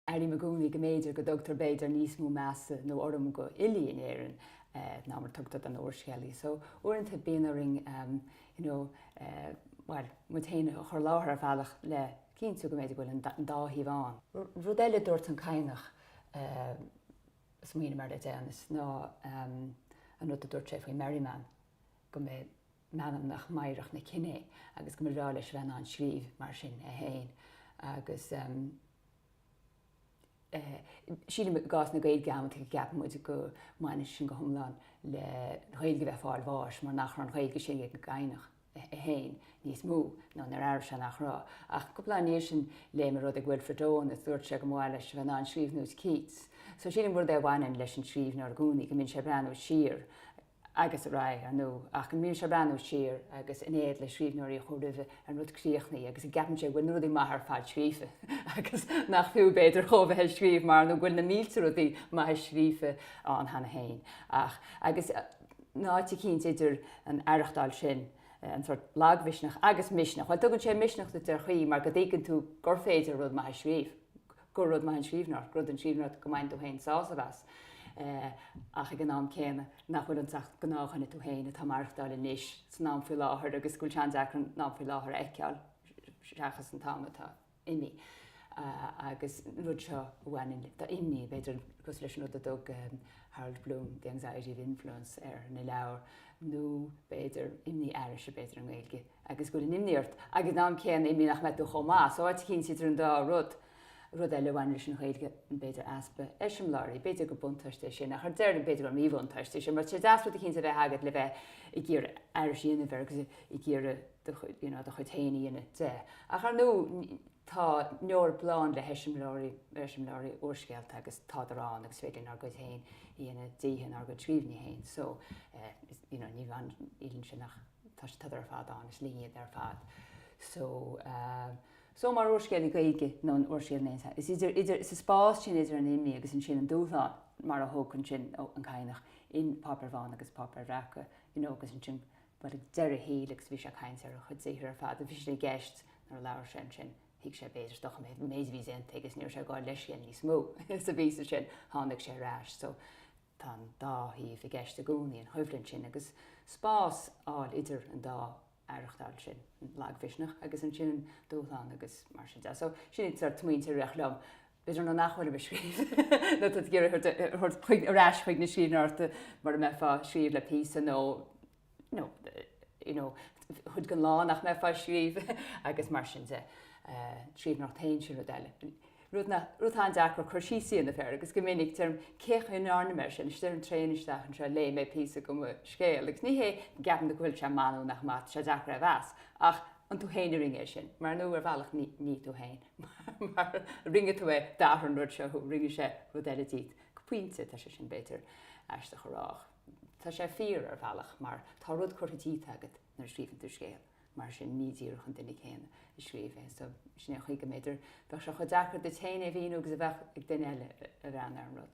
Airím i gcónaí go mb'fhéidir go dtugtar b'fhéidir níos mó measa nó urraim go fhilí in Éirinn ná mar a tugtar don úrscéalaí so uaireanta bíonn orainn you know bhuel muid féin a chur i láthair ar bhealach le cinntiú go mb'fhéidir go bhfuil an dá thaobh ann. Rud eile a dúirt an Cadhnach a smaoiním air le deireanas ná an rud a dúirt sé faoi Merriman go mba é anam meanmnach meidhreach na cine é agus go mba bhreá leis a bheith in ann scríobh mar sin é féin agus Sílim i gcás na Gaeilge amanntaí go gceapann muid go mbaineann sin go hiomlán leis an Ghaeilge a bheith ag fáil bháis mar nach raibh an Ghaeilge sin ag an gCadhnach é féin níos mó nó nár airigh sé nach raibh. Ach cúpla lá i ndiaidh sin léigh mé rud ag Wilfred Owen is dúirt sé go mba mhaith leis a bheith in ann scríobh nós Keats. So sílim gurb é a bhaineann leis an scríbhneoir i gcónaí go mbíonn sé ag breathnú siar agus ar aghaidh, ar ndú, ach go mbíonn sé ag breathnú siar agus in éad le scríbhneoirí a chuaigh roimhe ar an rud críochnaithe agus go gceapann sé go bhfuil na rudaí maithe ar fad scríofa agus nach fiú, b'fhéidir, dhó a bheith ag scríobh mar nó go bhfuil na mílte rudaí maithe scríofa ann cheana féin? Ach, agus in áit éicint idir an aireachtáil sin, an sort lagmhisneach agus misneach, bhuel, tugann sé misneach duit ar chaoi mar go dtuigeann tú gur féidir rud maith a scríobh, gur rud maith an scríbhneoireacht, gur rud an scríbhneoireacht go mbainfidh tú féin sásamh as ach ag an am céanna nach bhfuil ionat ach gnáthdhuine tú féin atá maireachtáil anois, san am faoi láthair agus go bhfuil sé an-deacair an am faoi láthair a fheiceáil seachas an t-am atá imí agus an rud seo a bhaineann leis an imní, b'fhéidir, cosúil leis an rud a dtug Harold Bloom 'the anxiety of influence' air ina leabhar nó b'fhéidir imní aithrise, b'fhéidir, i nGaeilge. agus go bhfuil an imní ort, agus in am céanna imní nach mbeidh tú chomh maith so áit éicint idir an dá rud. Rud eile a bhaineann leis an Ghaeilge, b'fhéidir easpa eiseamláirí, b'fhéidir gur buntáiste é sin, ach ar deireadh b'fhéidir gur míbhuntáiste é sin, mar tá sé deas rud éicínt a bheith agat le bheith ag iarraidh aithris a dhéanamh air agus ag iarraidh do chuid, you know, do chuid féin a dhéanamh de. Ach ar ndú, tá an Eoraip lán le heiseamláirí, eiseamláirí úrscéalta agus tádar ann agus is féidir linn ár gcuid féin a dhéanamh díobh in ár gcuid scríbhinní féin. So, eh, you know, ní bhaineann, nílíonn sé nach. tá siad ar fad ann, is linn iad ar fad. So, so mar úrscéalaí Gaeilge, nó an úrscéal in aon chor, is idir, idir, sa spás sin idir an imní agus ansin an dúshlán, mar a thugann sin an Cadhnach in Páipéir Bhána agus Páipéir Bhreaca, you know, agus ansin, bhuel, ag deireadh a shaoil agus bhí sé ag caint ar a chuid saothar ar fad, a bhí sé i gceist nuair a labhair sé ansin, thuig sé b'fhéidir, dochreidte an méid a bhí déanta agus ní raibh sé ag fháil leithscéil níos mó sa bpíosa sin, tháinig sé ar ais. So, Tá an dá thaobh i gceist i gcónaí an choimhlint sin agus spás a fháil idir an dá aireachtáil sin, an lagmhisneach agus ansin an dúshlán agus mar sin de. So, sin iad sort smaointe a rith liom. B'fhéidir nuair nach bhfuilim ag scríobh nó tá tú ag iarraidh thabhairt chuig, ar ais chuig na scríbhneoireachta mara mbeifeá ag scríobh le píosa nó, nó, you know, cuid den lá nach mbeifeá ag scríobh agus mar sin de, scríbhneoireacht féin, sin rud eile. Rud atá an-deacair cur síos a dhéanamh air agus go minic deirim cén chaoi a ndearna mé é sin, is ar an traein isteach anseo léigh mé píosa de mo scéal agus ní hé go gceapann tú go bhfuil sé maith nó nach maith, tá sé deacair é a mheas ach an tú féin a rinne é sin? Mar nó ar bhealach ní tú féin mar rinne tú é, d'athraigh an rud seo thú, rinne sé rud eile díot. Go pointe tá sé sin b'fhéidir aisteach a rá ach. Tá sé fíor, ar bhealach, mar tá rud curtha díot agat nuair a scríobhann tú scéal, mar sin ní díreach an duine céanna a scríobh é. So, sin é an chaoi go mb'fhéidir bheadh sé chomh deacair duit féin é a mhíniú agus a bheadh ag duine eile a bhreathnaigh ar an rud.